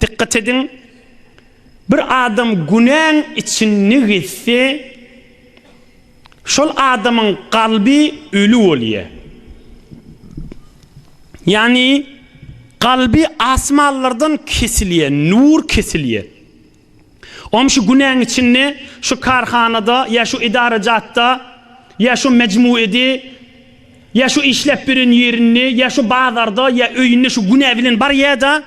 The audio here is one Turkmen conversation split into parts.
Dykgat ediň, bir adam günäň içinde gezse, şol adamyň kalby öli bolýar. Ýagny, kalby asmanlardan kesilýär, nur kesilýär. Oňa şu günäň içinde şu karhanada ýa şu idarajatda ýa şu mejmuede ýa şu işläp ýören ýerinde ýa şu bazarda ýa öýünde şu günä bilen barýa-da,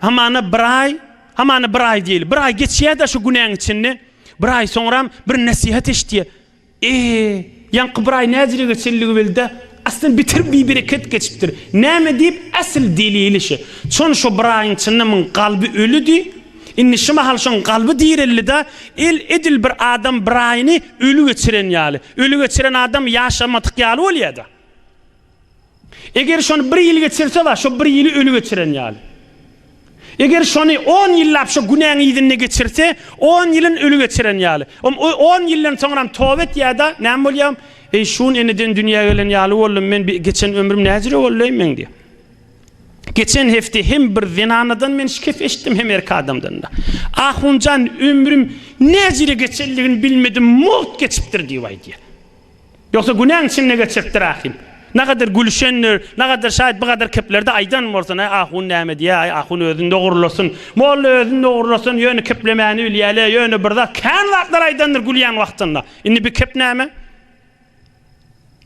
hamana bir aý, hamana bir aý diýeli, bir aý geçýä-de şu günäň içinde, bir aý soňram bir nesihat eşitýä. Ehe, ýaňky bir aý näzire geçenligi welida, aslynda beter bibereket geçipdir. Näme diýip, äsli delili şe. Çon şo bir aýyň çynda muň galby ölüdi. Indi şi mahal şoň galby direldi-da, el edil bir adam bir aýyny öli geçiren ýaly. Öli geçiren adam ýaşamadyk ýaly bolýa-da. Eger şony bir ýyl geçirse bar, şo bir ýyly öli geçiren ýaly. Eger şony on ýyllap şo günäň yzynda geçirse, on ýylyn öli geçiren ýaly. Om o on ýyldan soňram toba etýärda, näme bolýar? Eý, şun eneden dünýä gelen ýaly boldum men, bi geçen ömrüm näjüre boldy eý meň diýär. Geçen hepde hem bir zenanadan men şikes eşitdim, hem erk adamdan-da. Ahunjan ömrüm näjüre geçenligini bilmedim, mugt geçipdir diýip aýdýar. Ýogsa günäň içinde geçiripdir ahim. Nagadyr gülüşendir, nagadyr şaýt bu gadar keplerde aýdan bolsun-aý ahun näme diýä-aý ahun özün dogrulasyn. Molla özün dogrulasyn ýöne keplemäni bilýä-le ýöne bir zat kän zatlar aýdandyr gülýän wagtynda. Indi bi kep näme?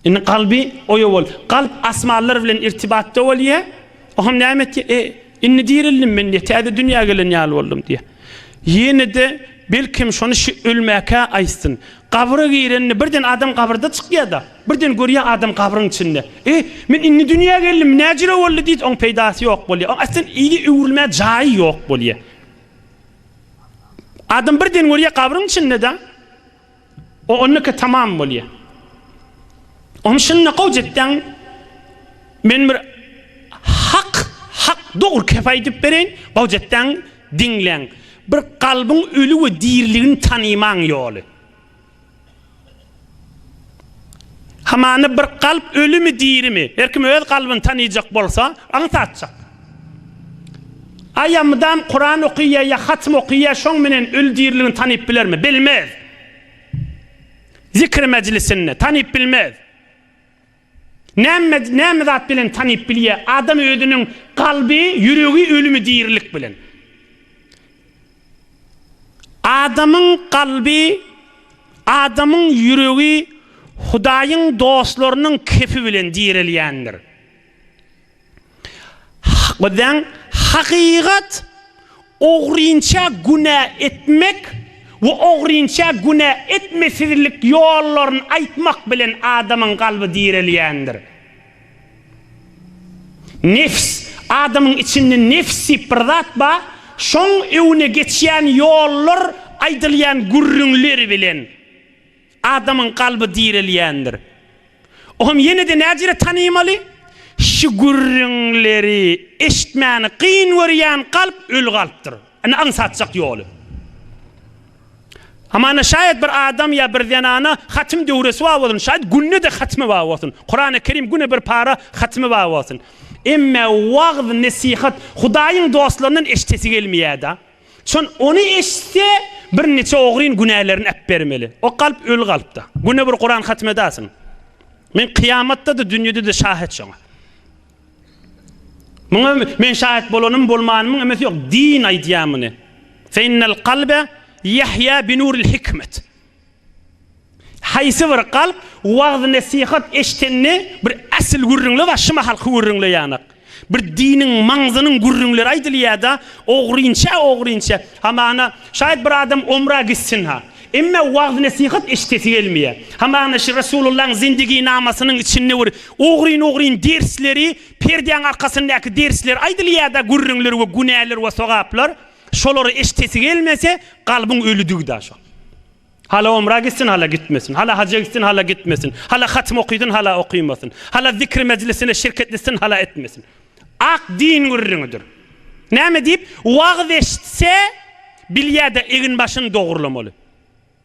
Indi galby oýa bol. Galp asmanlar bilen irtibatda bolýa. Oham näme etýä? E, indi dirildim men diýä. Täze dünýä gelen ýaly boldum diýä. Ýene-de belkem şony şi ölmäkä aýtsyn. Gabra girende birden adam gabyrda çykýa-da. Birden görýä adam gabryň içinde. E, men indi dünýä geldim, näjüre boldy diýdi, oň peýdasy ýok bolýa. Oň aslen yzy öwrülmä jaýy ýok bolýa. Adam birden görýä gabryň içinde-da. O onnuka tamam bolýa. Ony şunda gowy jetdeň men bir hak hak dogry kep aýdyp bereýin gowy jetdeň diňleň bir kalbyň öli we diriligini tanymaň ýoly. Hamana bir kalp ölimi dirimi her kim öz kalbyny tanyjak bolsa aňsatjak. Aýa mydam Kuran okyýa ýa hatym okyýa şoň menen öli diriligini tanyp bilermi? Bilmez. Zikir mejlisinde tanyp bilmez. Näme näme zat bilen tanyp bilýä adam özüniň kalby ýüregi ölümi dirilik bilen. Adamyň kalby adamyň ýüregi Hudaýyň dostlarynyň kefi bilen direlýändir. Bizden hakykat ogrynça günä etmek we ogrynça günä etmesizlik ýollaryny aýtmak bilen adamyň kalby direlýändir. Nefs, adamyň içinde nefs diýip bir zat bar, şoň öwüne geçýän ýollar aýdylýan gürrüňler bilen. Adamyň kalby direlýändir. O hem ýene-de näcirä tanymaly? Şu gürrüňleri eşitmäni kyn görýän kalp öli kalpdyr. Ine aňsatjak ýoly. Hamana şaýat bir adam ýa bir zenana hatym döwresi bar bolsun, şaýat günde-de hatymy bar bolsun, Kurany Kerim güne bir para hatymy bar bolsun. Emme wagz-nesihat Hudaýyň dostlaryndan eşitesi gelmeýärda. Şon ony eşitse, birniçe ogryn günälerini äpbermeli. O kalp öl kalpda. Güne bir Kuran hatm edasin. Men kyýamatda-da, dünýede-de şahet şoňa. Muňa men şahet bolanym, bolmanymyň emesi ýok. Din aýdýar muny. Fe innel kalbe ýahýa bi nuril hikmet. Haýsy bir kalp wagyz-nesihat eşitende bir äsl gürrüňle bar, şyma halky gürrüňle ýanak. Bir diniň, maňzynyň gürrüňleri aýdylýar-da, ogrynça, ogrynça. Hamana, şaýat bir adam omra gitsin-ha. Emme wagyz-nesihat eşidesi gelmeýär. Hamana şu Resulullaň zindiginamasynyň içinde bir ogryn-ogryn dersleri, perdäň arkasyndaky dersler aýdylýar-da, gürrüňler we günäler we sogaplar. Şolary eşdesi gelmese, kalbyň ölüdigi-da şol. Hala omra gitsin, hala gitmesin, hala haja gitsin, hala gitmesin, hala hatym okysyn, hala okymasyn, hala zikir mejlisine şirket etsin, hala etmesin. Ak din gürrüňidir. Näme diýip, wagyz eşitse, bilýä-de egin-başyny dogrulamaly.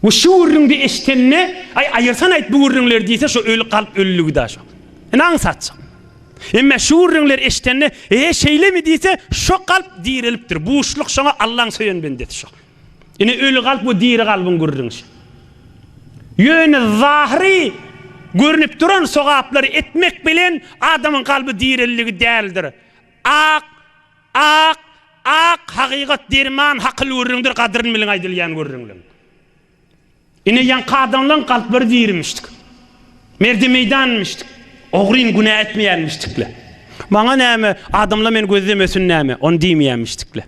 We şu gürrüňdi eşitende, Aý, aýyrsan aýt bu gürrüňleri diýse, şo öli kalp ölüligi-dä şo. Indi aňsatjak. Emme şu gürrüňleri eşitende, E-e, şeýlemi diýse, şo kalp direlipdir. Buşluk şoňa Allaň söýen bendesi şo. Ine öli kalp we diri kalbyň gürrüňi şo. Ýöne zahyry görnüp duran sogaplary etmek bilen adamyň kalby direlligi däldir. Ak Ak, ak, hakykat derman, hakyl gürrüňdir, gadryn biliň aýdylýan gürrüňleň. Ine, ýaňky adamlaň kalplary dirimişdik. Merdi meýdanmyşdyk. Ogryn günä etmeýänmişdik-le. Maňa näme, adamla meni gözlemesin näme, ony diýmeýänmişdik-le.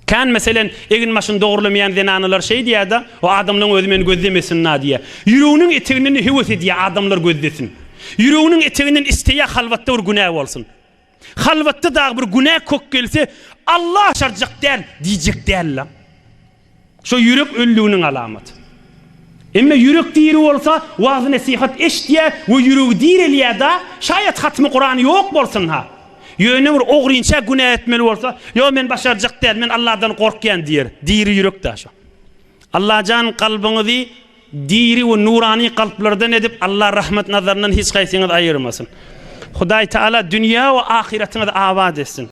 Kän, meselen, eginbaşyny dogrulamaýan zenanalar şeý diýýär-de, O adamlaň özi meni gözlemesin-na diýýär. Ýüreginiň eteginden-de höwes edýär, adamlar gözlesin. Ýüreginiň eteginden isleýär, halwatda bir günä bolsun. Halwatda dagy bir günä kök gelse, Alla aşarjak däl diýjek däl-la. Şo ýürek ölüliginiň alamaty. Emma ýürek diri bolsa, wagyz-nesihat eşitýär we ýüregi direlýär-da, şaýat hatmy Kurany ýok bolsun-ha. Ýöne bir ogrynça günä etmeli bolsa, Ýok, men başarjak däl, men Alladan gorkýan diýer. Diri ýürek-dä şo. Allajan kalbyňyzy Diri we nurany kalplardan edip Allah rahmet nazaryndan hiç kaysyňyzy aýyrmasyn. Hudaý Taala dünýä we ahyratyňyzy abat etsin.